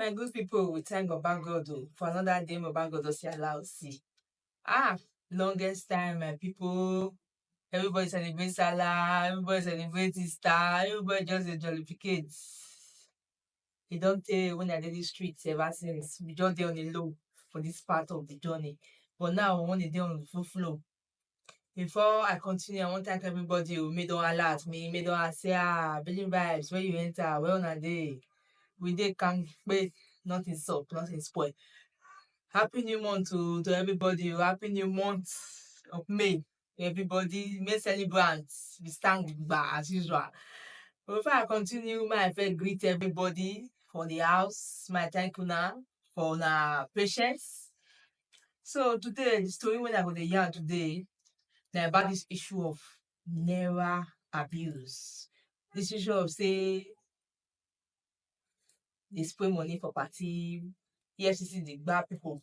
My good people, we thank Baba God oh, for another day Baba God oh, see allow see. Ah, longest time, my people. Everybody celebrate Salah, everybody celebrate Easter, everybody just a jollificate. e don tey wen I dey dis street ever since we just dey on a low for dis part of di journey but now we wan dey dey on full flow before I continue I wan thank everybody o make don hala at me make don ask say ah Billing Vibes where you enter where una dey we dey kampe nothing sup nothing spoil happy new month o to everybody o happy new month of May everybody make celebrant we stand gidigba as usual but before I continue make I first greet everybody for the house make I thank una for una patience so today the story wey I go dey yarn today na about this issue of naira abuse this issue of say dey spray money for party EFCC dey gba people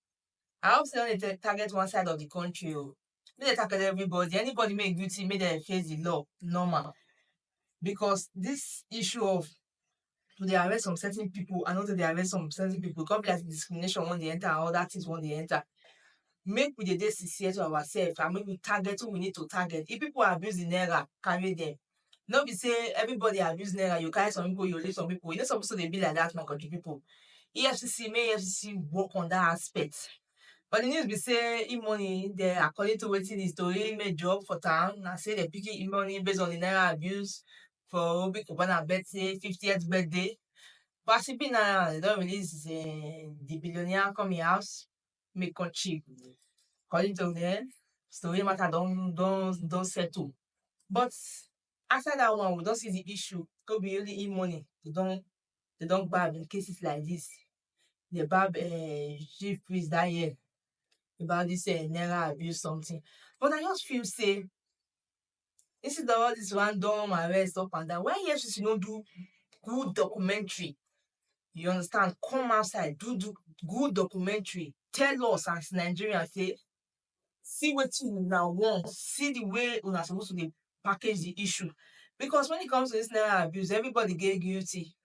I hope say dem no dey target one side of the country o. Make dem target everybody. Anybody make e guilty, make dem face the law normal. Because this issue of to dey arrest some certain people and not to dey arrest some certain people, e come be like say discrimination wan dey enter and other things wan dey enter. Make we dey dey sincere to ourselves and make we target who we need to target. If people are abusing naira, carry dem. no be sey everybody abuse naira, you carry some people, you leave some people, e no suppose to dey be like dat my country people. EFCC make EFCC work on dat aspect. But the news be sey e-money dey according to wetin the tori make drop for town na sey dem picking e-money base on the naira abuse for Obi Cubana birthday, fiftieth birthday. But as e be now, dem don release the billionaire come im house. make come chill according to um the way matter don don don settle but after that one we don see the issue no be only him money dem don dem don gbab in cases like this dem gbab um chief priest that year about this um naira abuse something but I just feel say instead of all this random arrest up and down why efcc no do good documentary you understand come outside do do good documentary tell us as nigerians say see wetin una want see the way una suppose to dey package the issue because when it comes to this naira abuse everybody dey guilty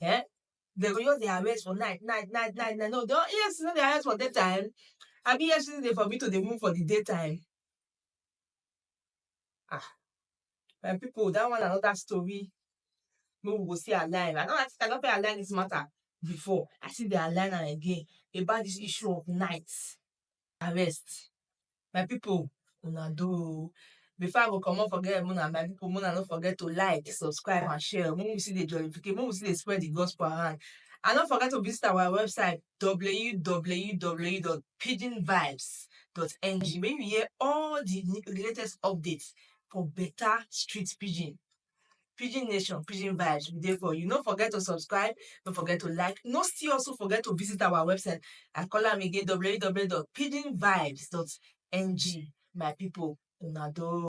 Eh? They go just dey harvest for night, night, night, night, night. No, they don't, EFCC no dey harvest for daytime. Abi EFCC dey forbid to dey move for the daytime? Ah, my people, that one na another story. Wey we go see align. I don, I think I don first align this matter before. I still dey align am again about this issue of night. arrest my people una do o before I go comot for here make una no forget to like subscribe and share make we still dey jollificate make we still dey spread the gospel around and no forget to visit our website www.pidginvibes.ng make you hear all the latest updates for better street pidgin. Pidgin Nation, Pidgin Vibes, we dey for you. No forget to subscribe, no forget to like, no still also forget to visit our website. I call am again www.pidginvibes.ng. My people, una do.